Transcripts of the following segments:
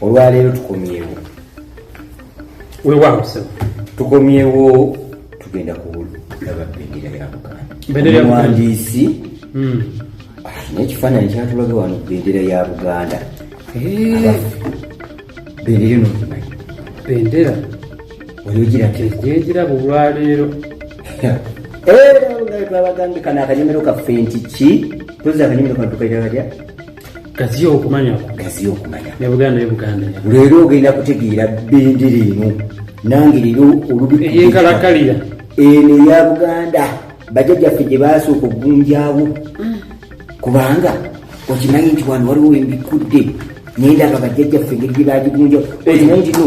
olwaleero tukomyewo wewaawo sebo tukomyewo tugenda kulaba bendera ya buganda omuwandiisi hmm. alina ekifaananyi kyatulaga wano bendera ya buganda eh. bendera eno bendera waliwo girabirabulwaleero era nga twabagambye kano akanyomero kaffe nti ki tozi akanyomero kano tukaita katya gaziya okumanya gaziya okumanya ne buganda ye buganda leero ogenda kutegeera bendera eno nange leero olubieyenkalakalira eno eya buganda bajajaffe gye baasooka okugunjawo mm. kubanga okimanyi nti wano waliwo embikudde naye ndaba bajajaffe engeri gye bagigunjawo okimanyi ntino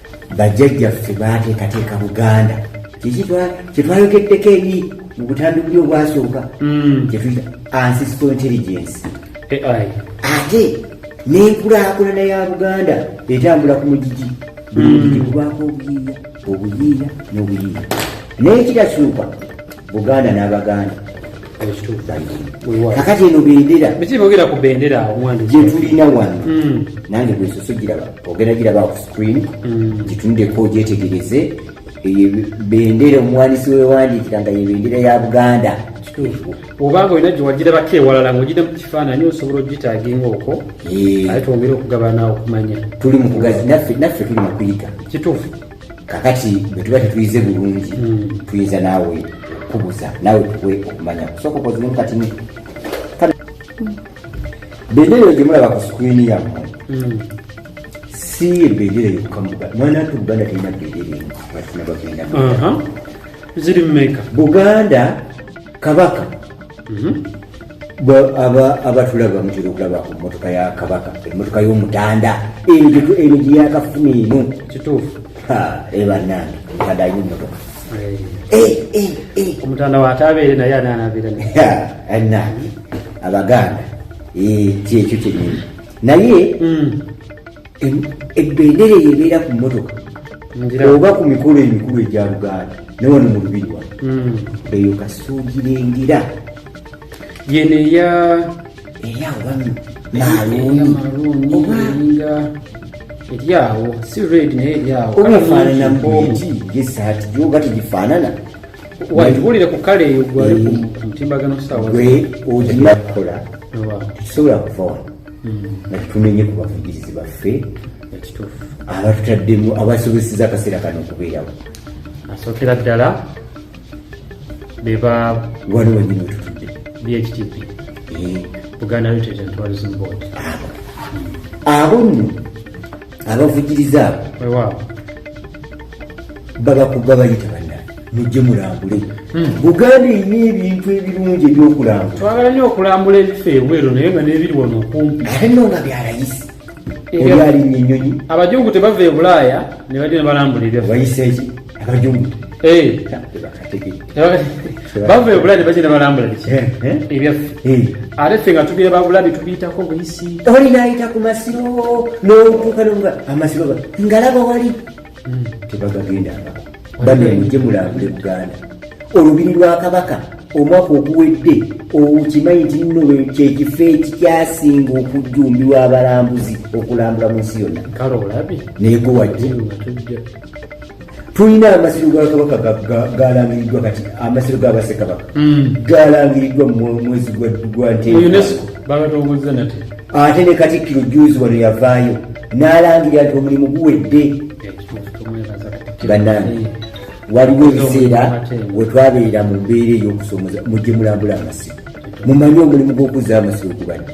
bajjajjaffe baateekateeka buganda kiki kyetwayogeddeko eri mu butandikuli obwasooka mm. kyetuyita ancestal intelligence ate n'enkulakulana ya buganda etambula ku mugigi buli mm. mugigi gubako obuyiiya obuyiiya n'obuyiiya naye kitakyuka buganda n'abaganda kakati eno bendera byebogera ku bendera gyetulina wano hmm. nange bwesoso giraba ogenda giraba ku screen hmm. gitundeko gyetegereze eyo bendera omuwandisi wewandikira nga yebendera ya buganda obanga olina gyewagirabako ewalala ngaogida mu kifaananyi osobola ogitaginga okwo eh. aye twongere okugabana okumanya tuli mukugazi naffe tuli mukuyiga kituufu kakati bwe tuba tetuyize bulungi hmm. tuyinza naawe okubuza naawe tuwe okumanya kusooka okoziremu katini bendera eyo gye mulaba ku sikwini yammwe hmm. si bendera yokukamuga mwana nti buganda terina bendera emu batina bagenda ziri mumeka buganda kabaka mhm. abatulaba mutera okulaba ku mmotoka ya kabaka emmotoka y'omutanda eno gye yakafuna eno kituufu ebanange eh, omutanda alina emmotoka eh, eh, omutanda wataabeere naye ananabeera anange abaganda kyekyo kyenyini naye hmm. ebbendera eyo ebeera ku mmotoka oba ku mikolo emikulu egya luganda naye wano mu lubiri wa hmm. eyo kasuugira engira yeno eya eya wami maluuni oba eryawo si red naye eryawo oba efaanana muti gesaati gyoba tegifaanana watuwulire ku kale eyo gwali ku mutimbagano saawa gwe oginakukola tekisobola kuva wano nga tetumenye ku bavugirizi baffe abatutaddemu abasobeseza akaseera kano okubeerawo asookera ddala beba wano wenyini wetutudde bhtp eh. buganda tourism board abo nno abavujiriza abo babakuba bayita banna mujje mulambule hmm. buganda erina ebintu ebirungi ebyokulambula twagala nyo okulambula ebifo ebweru naye nga nebiri wano okumpi ate no nga byalayisi olyalinya enyonyi abajungu tebava ebulaaya nebagye nebalambula ebyawayiseeki abajungu eh. bava ebuladi bagenda balambula biki eh, eh? ebyaffe eh. ate ffe nga tubira babuladi tubiyitako buyisi oli nayita ku masiro nokuuka noga amasiro ngalaba wali hmm. tebagagenda bamemuje mulambule buganda olubiri lwa kabaka omwaka oguwedde okimanyi nti nno kyekifo ekikyasinga okujjumbirwa abalambuzi okulambula mu nsi yonna kale olabi naye gwe wajja tulina amasiro ga kabaka galangiriddwa kati amasiro ga basekabaka hmm. galangiriddwa mumwezi gwa ntebagatongozza nate ate ne katikkiro juzi wano yavaayo n'alangira nti omulimu guwedde eh, banange eh. waliwo ebiseera wetwabeera mu mbeera ey'okusomoza mujje mulambula amasiro mumanye omulimu gw'okuzza amasiro gubadde